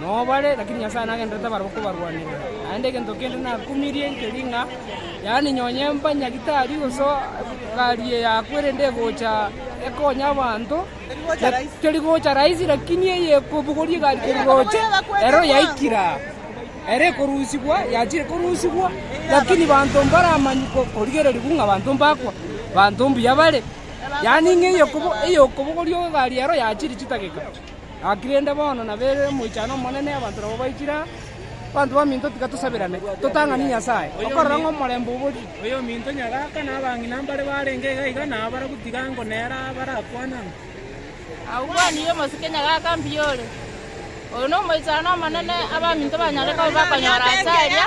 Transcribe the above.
Nao bare, lakini Nyasae nagenderete barabwo kobarwanera. Naende egento kende nakumirie nkeri ng'a, yaani nonye mbanyagitari gose egari eyakwa erende egocha ekonya abanto, teri gocha rahisi, lakini eye ekobogoria egari keri roche, ero yaikire aa. Ere ekorusigwa yachire korusigwa, lakini banto mbaramanye korigereria buna abanto mbakwa, banto mbuya bare, yaani ng'a eye okobogoria egari ero yachire chidageka. Gaki rende bono nabeire omoichano omonene, abanto nabo baikire aa. Abanto baminto tiga tosabirane, totang'anie Nyasae, okorora ng'a omorembe oborie. Oyominto nyagaka na abang'ina mbare barenge iga iga na abarabwo tiga ngo nere abarakwane amo. Agwo bwenene omosike nyagaka mbuya ore. Oyo nomoichano omonene, abaminto banyare koba bakonyora ase aria.